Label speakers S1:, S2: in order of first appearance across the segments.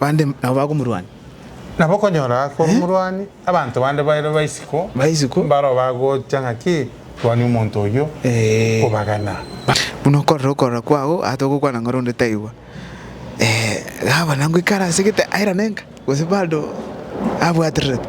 S1: Bande nabo bakomorwania. Nabo okonyora
S2: korwa omorwani, abanto bande bairwe ba isiko, Ba isiko. mbaro
S1: bagocha
S2: ng'aki, Rwania omonto oyio, Ee. kobagana. Buna
S1: okorera okorora kwao, aa togokwana ng'a ore onde taigwa. Ee, gavana ngoikare ase egete airane enka, gose bado abwatererete?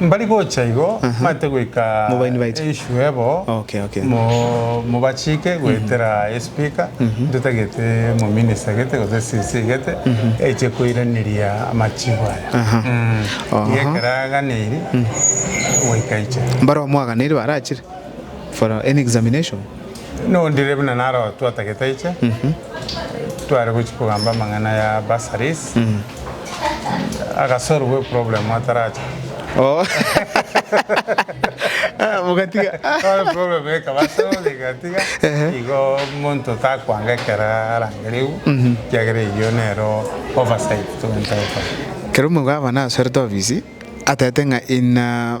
S1: Mbari gocha
S2: igo, mabete goika enswe bo, mobachike goetera esipika, ntotagete mominista egete gose esisi egete eche koiraneria amachibo aya. Iga ekero aganeiri, goika aiche. Mbaromo
S1: aganeri barachire for an examination. Nondire
S2: buna naro twatagete aiche, tware gochia kogamba amang'ana ya bursaries, agasolve eproblem ataracha. Oh. Ah,
S1: mugatiga. Tware eproblem
S2: ekaba solved egatiga, igo omonto takwanga ekero arangereiwu, ekiagera eyio nero oversight togwenta gokora. Kero omobwabana
S1: asorete ofisi, atagete ng'a ina.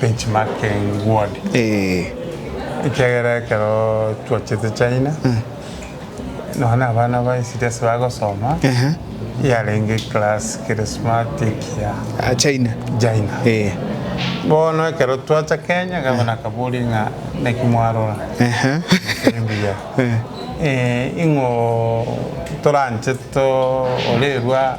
S2: benchmarking word ekiagera ekero twachete China nonya na abana ba esegi ase bagosoma yarenge class kere smart ekiya China
S1: bono
S2: ekero twacha Kenya gavana akaboria ng'a naki mwarora tiri mbuya ing'o toranche torerwa.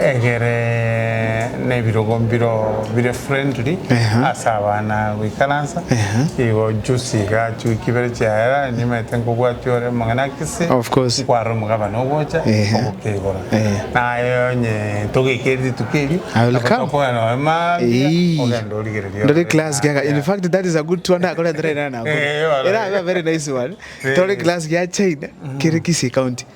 S2: egere nebirogo mbiro bire friendly ase abana goikaransa igo juzi iga chiwiki ibere chiaera nimanyete nkobwatia ore omong'ina Kisii nkwarora
S1: omogabane ogocha
S2: ogokeigora naye onye togeikeri rituko erio nabo tokogenda
S1: nonya mambia ogende origereria ore rituko erio.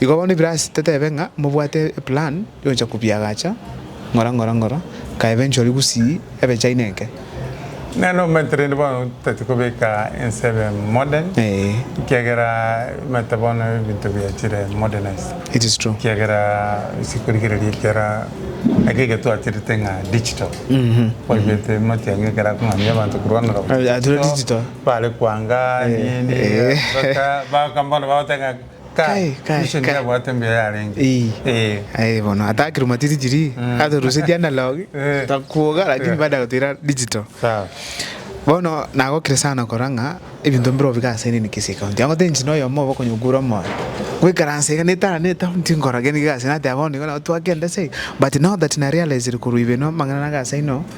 S1: Igo bono ebirasi tetebe ng'a mobwate eplan yogocha kobiagacha ng'ora ng'ora ng'ora, kaebe enchori gusii ebe chaina enke. Nere
S2: nokomenta rende bono totati kobeka ense ebe modern ekiagera omanyete bono ebinto biachire modernize. It is true. Ekiagera
S1: gose
S2: korigereria ekiara eke getwachirete ng'a digital. Kwabete amatiang'i ekero akong'amia abanto korwa ng'a. Tore digital.
S1: Bare koanga
S2: nini, gosoka, bakaba bono bagoteba ng'a. Kai, kai, Christian kai. yabwate mbuya yarenge. Ii. Eh. Aye bono
S1: atakire matiti chiri Mm. atorusetie analog Eh. takuoga lakini Eh. baada ya kutira digital Sawa.
S2: bono
S1: nagokire sana kora ng'a ebinto mbire obiga ase nini Kisii county ango tenchi na oyomo obe okonyokura omoyo goikaransa iga netara ne town tinkora gende gasi nateba bono igo nabo twakenda ase iga but now that na realized korwa ibere na amang'ana nagasaino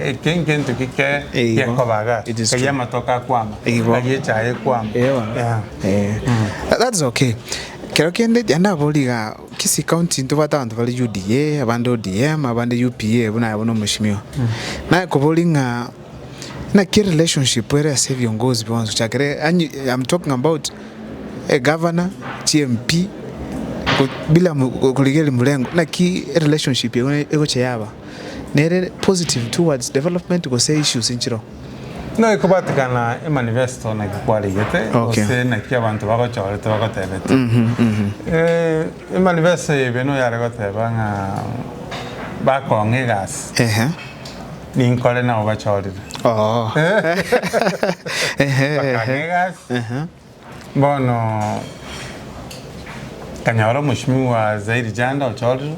S2: Eke ngento gike gekoba iga, eria amatoke akwama, eria echaye ekwama. That's
S1: okay. Kero kende ya ndabori iga Kisii county ntobwate abanto bare UDA, abande ODM, abande UPA buna bono mheshimiwa. Naye kobori ng'a naki relationship ere ase ebiongozi bionsi ochakere I'm talking about a governor, chi MP bila korigereria mrengo naki relationship egocha yaba. nere positive towards development gose issues inchiro. Naki
S2: kwabatikana emanifesto naki kwaregete okay. gose naki abanto bagochorete bagotebete mm -hmm, mm -hmm. E, emanifesto ebe no yare goteba ng'a bakong'a egasi uh -huh. ninkore nabo bachorire oh. bakang'a egasi uh -huh. Bono nkanyora omoshimi bwa Zairi Janda ochorire,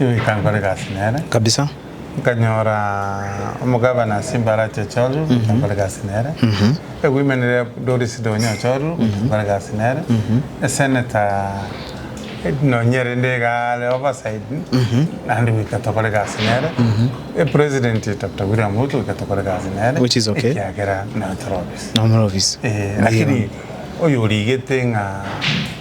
S2: nkaimoka nkore egasi nere. Kabisa. Nkanyora omogabana ase Mbarati ochorire, nkaimoka nkore egasi nere. Ewomen Rep Doris Donye ochorire, nkaimoka nkore egasi nere. Esenator nonya rende iga are overside, naende goika tokore egasi nere. Epresident Doctor William Ruto goika tokore egasi nere. Which is okay. Ekiagera
S1: nere tore obe. Nomorobisi. Ee, lakini
S2: oyo origete ng'a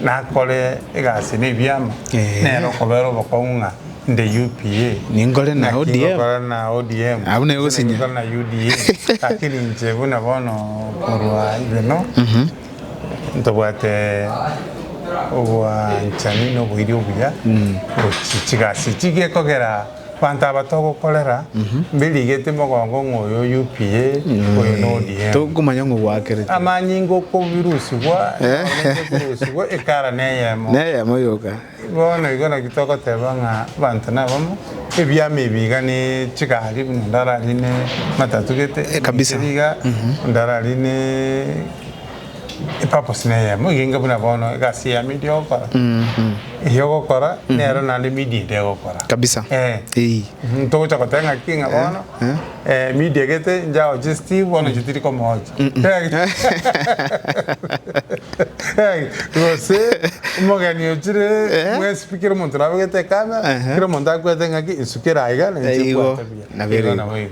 S2: nakore egasi na ebiama, Ee. nere okobera obokong'u ng'a inde UPA, Ninkore na naki ODM.
S1: ngokora na ODM,
S2: Abwo nigo gose gosinya.
S1: ngokora na UDA,
S2: lakini inche buna bono korwa igeno ntobwate obwanchani na oboiri obuya gochia chigasi echi gekogera Abanto aba togokorera mbirigeti mogongo ng'a oyo UPA, oyo na ODM. Tokomanya ng'o gwakereti.
S1: Amanyinga
S2: okobirusigwa ekorente ebirusigwa ekara neyemo. Neyemo yoka.
S1: Bono igo naki
S2: togoteba ng'a abanto nabamo, ebiama ebi iga ne chigari buna onde ararine matatu gete. Kabisa. Iga
S1: onde
S2: ararine epurpose neyemo igenge buna bono egasi yamo eria ogokora eyio ogokora nero naende media ende egokora Kabisa. Eh.
S1: Eyi. Mhm,
S2: togocha goteba ng'aki ng'a bono eh, media gete njaoche Steve bono inche tiri komoocha Eh, gose omogeni ochire mwesibikire omonto nabegete ekamera Ehe. kera omonto akwete ng'aki nsukera aiga na inche Igo, nkwate buya. nabo
S1: ere Igo igo. nabo igo.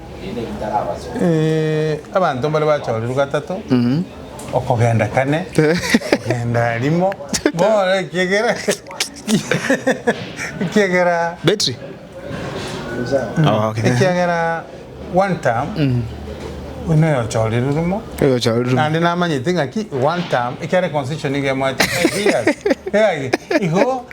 S2: Abanto mbare bachorerwe gatato okogenda kane okogenda rimo bono ekiagera ekiagera Battery.
S1: Okay. ekiagera
S2: one term buna oyochorerwe rimo Oyo chao rimo. naende namanyete ng'aki one term ekiare constitution nigo emwete five years Igo- igo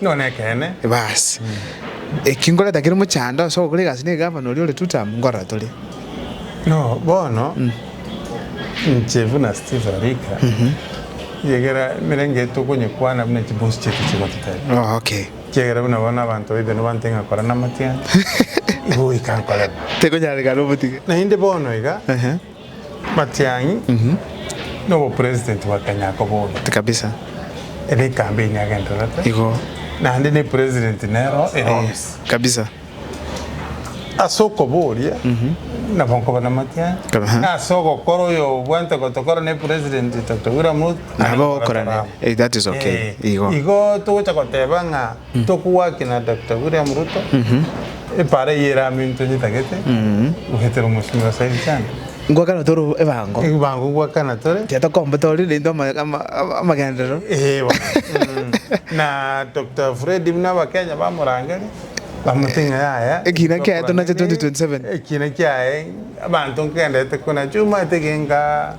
S1: Nigo nekeene.
S2: Basi,
S1: eki ngoreta kere mochando ase ogokora egasi na egavana oria ore Tutam, nkorora tore. No
S2: bono, inche buna Steve Arika, egera emerenge tokonyekwana buna chiboost chiaito chigototebia, ekiagera
S1: buna bono abanto
S2: baito nibantee ng'a kora namatiangi, igo goika nkorema. Tekonyarekana
S1: obotige. Naende bono iga.
S2: Matiang'i na obopresident bwa Kenya akobora Kabisa.
S1: ere
S2: ecampaign agendererete Igo. naende
S1: ne
S2: president nero ere Eh. office. Kabisa. Ase okoboria nabo nkoba na Matiang'i Kaba, ha. ase ogokora oyo obwate gotokora ne president Dr. William Ruto Nabo ogokora nere.
S1: Eh, that is okay. Eh, Igo. igo togocha
S2: goteba ng'a Tokogwaki na Doctor William Ruto epaara eye ere amo intwe nyetagete goetera omosimi o Said Chande. Ngwakana tore
S1: ebango. Ebango ngwakana
S2: tore. Tiga tokombete orire naintwe
S1: amagenderero. Eeh bono.
S2: Na Doctor Fred buna abakenya bamorangeria bamotebia ng'a yaya. Ekiina kiaye tonache 2027.
S1: Ekiina kiaye
S2: abanto nkegenderete kona chio omanyete genka.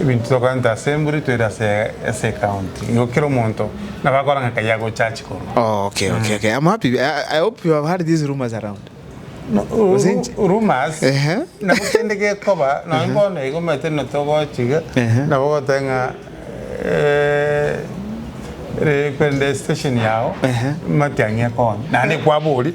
S2: Ebinto tokorenta ase emburi toire ase ase account igo kera omonto nabo akora ng'a kai agocha achi korwa. Oh, okay, okay, okay.
S1: I'm happy. I, I hope you have heard these rumors around. No, ru- Gose
S2: inche- ru- rumors Ehe. nabo kende gekoba nonye bono igo omanyete na togochiga Ehe. nabo ogoteba ng'a eh, eh, kwende station yao Ehe. matiang'i ekonya naende kwabori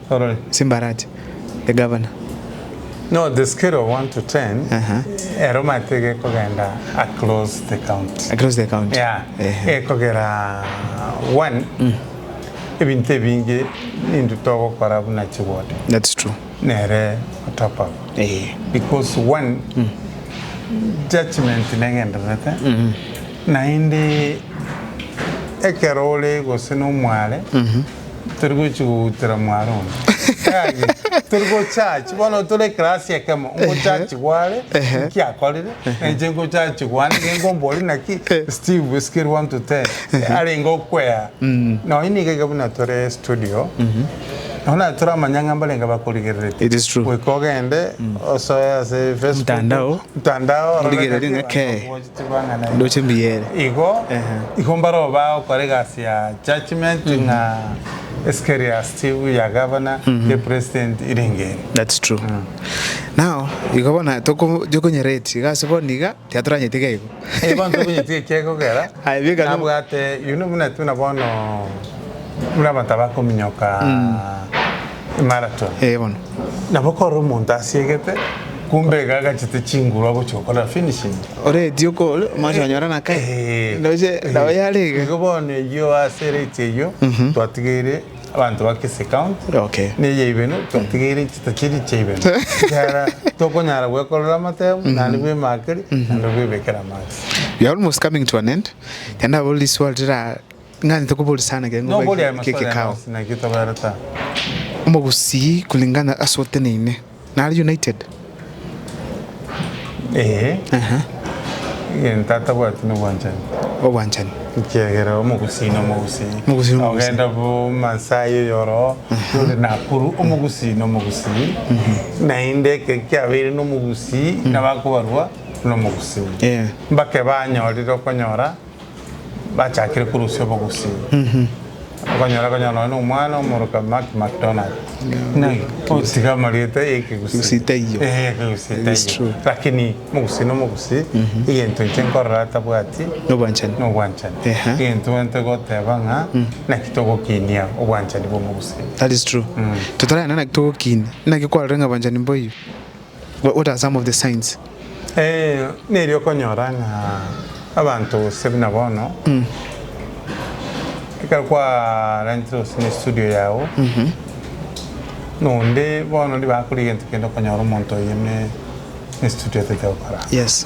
S1: Orore. Simbarati. The governor. No
S2: the scale of one to ten ero mate gekogenda across the county. Across the county.
S1: Yeah. Gekogera
S2: one ebinto ebinge ninto togokora buna chi ward. That's true.
S1: Nere
S2: top up. Because one judgement negendererete naende ekero ore gose nomware. Tori gochi goutera mware one. Yaani, tori gochachi, bono tore eklasi ekemo, ngochachi gware, nki akorire, nenche ngochachi gwane, gengo mbori naki, Steve, scale one to ten, arenge okwea. Mm. Nonya niga iga buna tore studio, mhm. nonya naye toramanya ng'a mbarenge bakorigerereti. It is true. Goika
S1: ogende,
S2: mm. osoe ase Facebook. Mtandao. Mtandao. Origereri ng'a kei.
S1: Igo igo
S2: mbaroba gokora egasi ya judgement ng'a escerious tibu ya governor ye president irenge eri. That's true
S1: now igo bono tokonyora rate iga ase bono iga tiatoranyeti iga igo. Ee bono tobinyeti eki
S2: egokera nabwate
S1: you
S2: know buna tuna bono buna abanto abakominyoka. Marathon. Eh bono.
S1: Nabo kore
S2: omonto asiegete kumbe iga agachete chinguru agochia gokora finishing. Ore eti okore
S1: omanyete konyora na kae. Eh. Ndoche nabo yare iga. Igo bono eyio
S2: ase rate eyio twatigeire abanto ba Kisii County. Okay. Ne eye ibere twatigeire chita chiri chia ibere. Ekiagera tokonyara gwekorera amatemo naende bwe emakeri naende bwe ebekera amache. We are almost coming
S1: to an end. Naende nabo riswali rira Ng'a ntokoboria sana ekero Noboria ngobae aye eke maswali ande ekekao. onsi, naki otaberete aa?
S2: Omogusii
S1: kulingana ase oteneine nare United? Ee, Ehe.
S2: egento atabwati nobwanchani. Obwanchani.
S1: Ekiagera
S2: omogusii na omogusii. Omogusii na omogusii. Ogenda bo Maasai oyo oroo, ore Nakuru, omogusii na omogusii. Naende ekero kiabeire na omogusii, nabo akobarwa na omogusii. Yeah. Mbake banyorire okonyora bachakire korusia obogusii okonyora konya nonya na omwana omoroka Mark McDonald ng'ai otiga amarieta ya ekegusii Gusii taiyo.
S1: Eh, ekegusii It is taiyo.
S2: true. lakini omogusii na omogusii egento inche nkorora atabwati Nobwanchani. nobwanchani Ehe. egento gento goteba ng'a naki togokinia obwanchani bwa omogusii That is true.
S1: Totaragenda naki togokinia. Naki kwarorire ng'a abanchani mboiyo. What are some of the signs? Eeh
S2: neri okonyora ng'a abanto gose buna bono ekero kwarentire gose ne studio yago na onde bono onde bakora egento kende okonyora omonto oye ne studio otete gokora. Yes.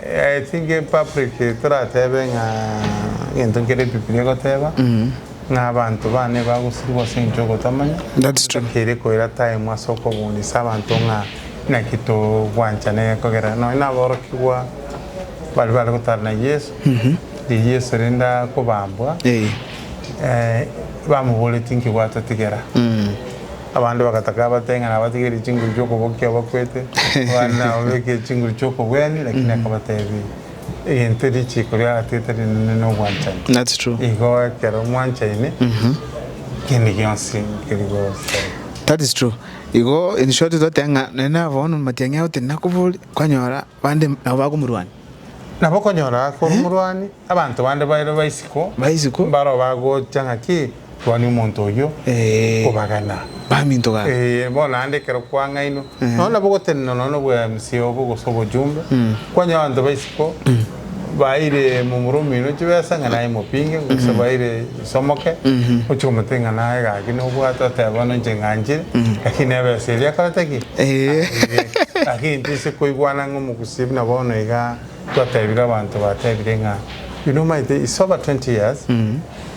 S2: I think in public toratebe ng'a egento nkere ebibilia egoteba ng'a abanto bane bagosirigwa ase engencho y'ogotamanya. That's true. Tokeire
S1: koira time
S2: ase okobundisa abanto ng'a naki togwanchana egekogera. Nonya na aborokigwa bari bare gotara na Yeso, riria Yeso rende akobambwa, Eh. eh, bamoboretie inki gwatotigera? Abande bagataka abatebie ng'a nabatigerie chinguru chi'okobokia abakwete, abande nababekeire chinguru chi'okobwenia, lakini akabatebia, Egento richiiko riagatiete rinene nobwanchani. That's true. Igo
S1: ekero
S2: mwanchaine, kende gionsi nkeri gosereka. That is
S1: true. Igo in short toteba ng'a nonya nabo bono matiang'i agotenena koboria, kwanyora. Bande nabo bagomorwania. Nabo okonyora
S2: ake ore omorwani, abanto bande baire ba isiko, Ba isiko. mbaro bagocha ng'a ki, rwania omonto oyio, Ee. kobagana. Baminto gaka.
S1: Ee, bono naende
S2: ekero kwang'ainwe, nonya nabo gotenena nonya obweamisia obo gose obojumbe, kwanyora abanto ba isiko baire momura omino chibesa ng'a naye mopinge, gose baire Somoke, ochie omote ng'a naye gaki nobwate otebe bono inche ng'anchire, gaki neba esa eria akorete ki? Aigete. Gaki intwe ase koigwana ng'a omogusii buna bono iga twatebire abanto batebire ng'a you know maete it's over 20 years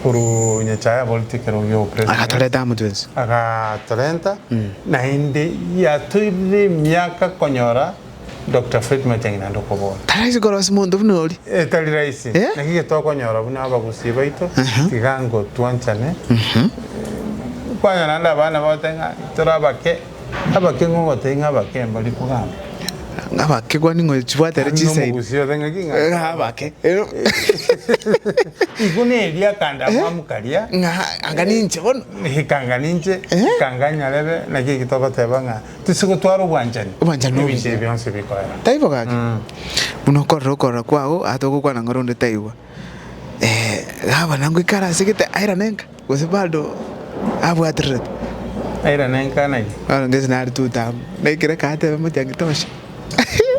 S2: korwa Nyachae aboreti ekero gio president. Agatoreta amo twensi.
S1: Agatorenta
S2: naende yatoirire emiaka konyora. Doctor Fred Matiang'i naende okobora. Taraisi korosia monto
S1: buna oria. Etari raisi. Eh?
S2: Naki getokonyora buna abagusii baito, Aha. tiga ngo twanchane. Kwanya naende abana bagotebi ng'a tore abake, abake ng'o gotebi ng'a abake mbari kogamba. Ng'abake
S1: kwani ng'o chibwate ere Naende chiside. omogusii ote ng'aki ng'a Ng'a
S2: abake. Ero. Igo neria akande amwamu karia. Ng'a anga ninche
S1: bono. Ikanga ninche,
S2: Eh? ikanga nyarebe, naki eki togoteba ng'a Tisigotwara obwanchani Obwanchani nobe ebinto ebi inche. bionsi
S1: bikoera.
S2: Taibo gaki?
S1: Buna okorora okorora kwao ata ogokwana ng'a ronde taigwa. Eh, gabana ngoikare ase egete aira nenka gose bado abwatererete? Aira
S2: nenka naki? Bono ngese nare tu
S1: tamu. Na ekero agateba motiangi tosha.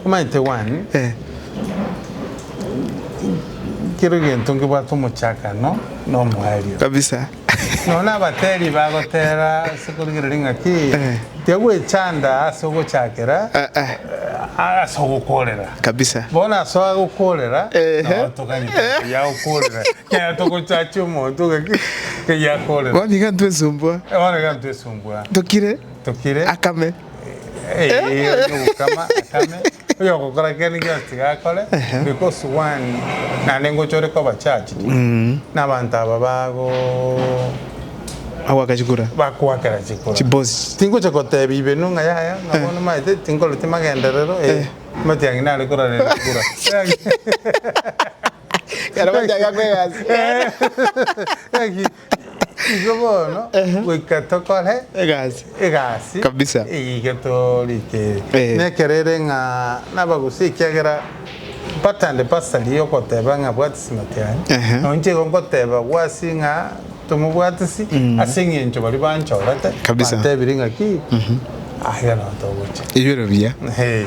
S1: Omanyete
S2: one, Eh, kero egento nkebwate omochakano na omoerio. kabisa.
S1: Nonya
S2: abatebi bagotera ase korigereria ng'a ki, tiagwechanda ase ogochakera ase ogokorera. Kabisa. Bono ase agokorera, Ehe. nao toganye togete yagokorera. Ekero togochachia omonto ng'a ki, ng'ai akorera. Bono iga ntwesumbua.
S1: Bono iga ntwesumbua. Tokire. Tokire. Akame. Eh, onya ogokama,
S2: akame. Oyogokora ekiagera gionsi tiga akore, because one naende ngocha ore koba charged na abanto aba bago Agoaka
S1: chikura. bakoakera chikura.
S2: Chibosi. Tingocha
S1: gotebia
S2: ibenu ng'a yaya ng'a bono maete tinkoreti magenderero eh omanyete yang'ina are kororera chikura. Ekero
S1: bachaka kwegasi. Eeh.
S2: Gaki Igo bono Ehe. goika tokore Egasi. egasi Kabisa. eyio
S1: getorikeirie
S2: Eh. na ekero ere ng'a nabagusii ekiagera batande basari yogoteba ng'a bwatisi matiani Ehe. na onche igo ngoteba gwasi ng'a tomobwatisi ase eng'encho baria banchorete Kabisa. bantebirie ng'a ki
S1: aye
S2: nonto ogocha
S1: Ebiro biya.
S2: Ehe.